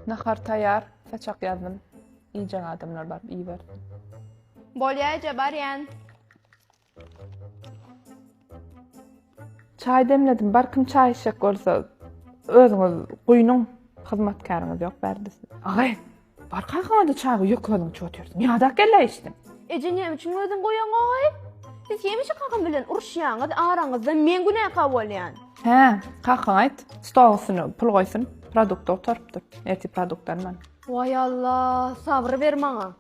Nahar taýýar, saçak ýazdym. Iýjek adamlar baryp iýibersin. Bolýa eje barýan. Çaý demledim. Bar kim çaý içjek bolsa özüňiz guýnuň. Hyzmatkäriňiz ýok bärde siz. Agay, bar kakaňada çaý guý, ýeke özüň içip otyrsyň. Ýadak geldi içdim. Eje näme üçin özüň guýaňaý? Siz hemişe kakam bilen uruşýaňyz, araňyzda men günäkär bolýan. Hä, kaka aýt, stol üstüne pul goýsun, produkt otaryp dur, ertir produkt alman. Waý Alla, sabry ber maňa.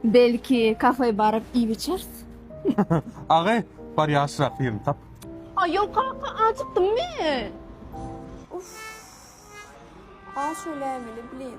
Belki kafe baryp iýip içers? Agy, bar ýaşrak ýerini tap. Aý ýok kaka, ajykdym men. Uff. Aş öläýmeli, blin.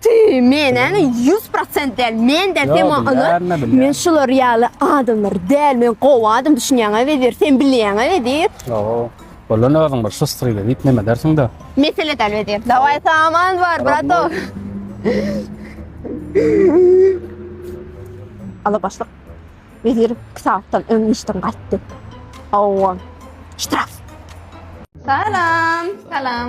Tüý, menäni ýüz prosent däl, men däl, sen maňa ynan, men şular ýaly adamlar däl, men gowy adam düşünýäňä bezer, sen bilýäňä bezer. Ýoo, bolany özüň bir şustryýda diýip neme edersiň-dä. Mesele däl bezer, dawaý saman bar, bratok. Alabaşlyk, bezer iki sagatdan öň işden gaýtdy. Hawa, ştraf. Salam, salam.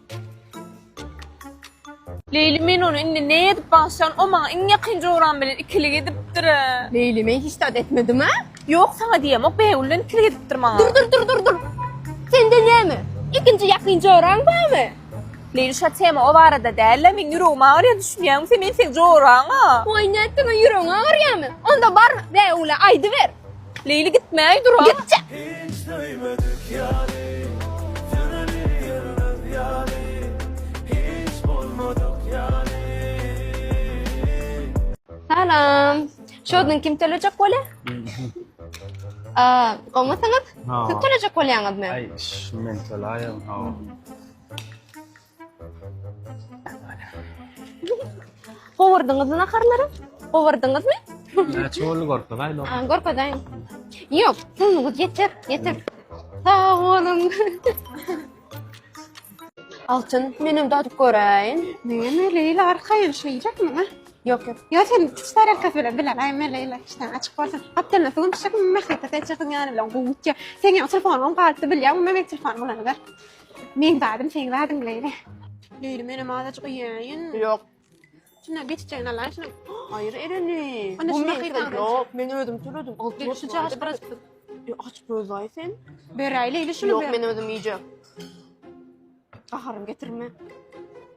Leýli men ony indi ne edip bagşan o maňa iň ýakyn joram bilen ikilik edipdir. Leýli men hiç zat etmedim a. Ýok saňa diýemok Bägül bilen ikilik edipdir maňa. Dur dur dur dur dur sende näme ikinji ýakyn joraň barmy. Leýli şa tema o barada dälä meň ýüregim agyrýa düşünýäňmi sen men seň joraňa. Oý nätdiň a ýüregiň agyrýamy onda bar Bägüle aýdyber. Leýli gitmäý dur-a. Gitjek. Hiç döýmedik ýaly, ýöreli ýörmez ýaly, hiç bolmadyk ýaly. Salam. Şodun kim tölejek bolýa? A, gowmasyňyz? Siz tölejek bolýaňyzmy? Aý, men töläýen, hawa. Gowurdyňyzmy naharlary? Gowurdyňyzmy? Näçe boldy gorkaz aýla? Ha, gorkazaýyn. Ýok, puluňyz ýeter, ýeter. Sag boluň. Altyn, menem dadyp göräýin. Neme Leyla arkaýyn şeýjek mi? Ýok, ýok. Ýa sen kiçi tarelkasy bilen bilen aýma Leyla işte açyk bolsun. Gapdalynda suwun düşjek mi? Mähripe seçjek ýany bilen gowutja. Sen ýa telefon on galypdy bilýär, bu men telefon bolany ber. Meň zadym seň zadyň leýli. Leýli menem azajyk iýäýin. Ýok. Şuna geçjegini alaýyn şuna. Aýyr ereni. Ana şuna hyýrdan. Ýok, men özüm töledim. Alty ýaş üçe aç biraz. E aç gözlaý sen. Beräý leýli şunu. Ýok, men özüm iýjek. Gaharym getirme.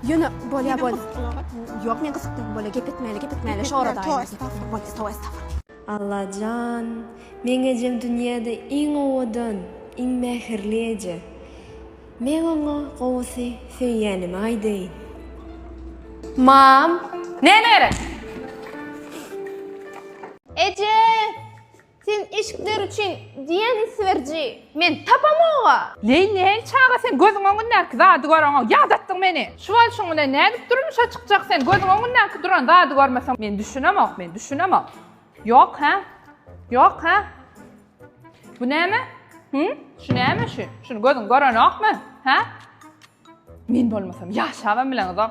Ýöne bolýa bol. Ýok men gysyk bolýa gep etmäýeli gep etmäýeli şo arada aýdym. Allajan meň ejem dünýäde iň owadan iň mähirli eje meň oňa gowusy söýýänimi aýdaýyn. Mam. Näme gerek? Eje! Sen eşikler üçin diýen isberiji, men tapamog-a! Leý, nähili çaga sen, gözüň öňündäki zady göreňok, ýadatdyň meni! Şu bolşuň bilen nädip durmuşa çykjak sen, gözüň öňündäki duran zady görmeseň, men düşünemok, men düşünemok! Ýok, hä? Ýok, hä? Bu näme? Hü? Şu näme şu? Şuny gözüň görenokmy? Hä? Men bolmasam ýaşabam bileňizok!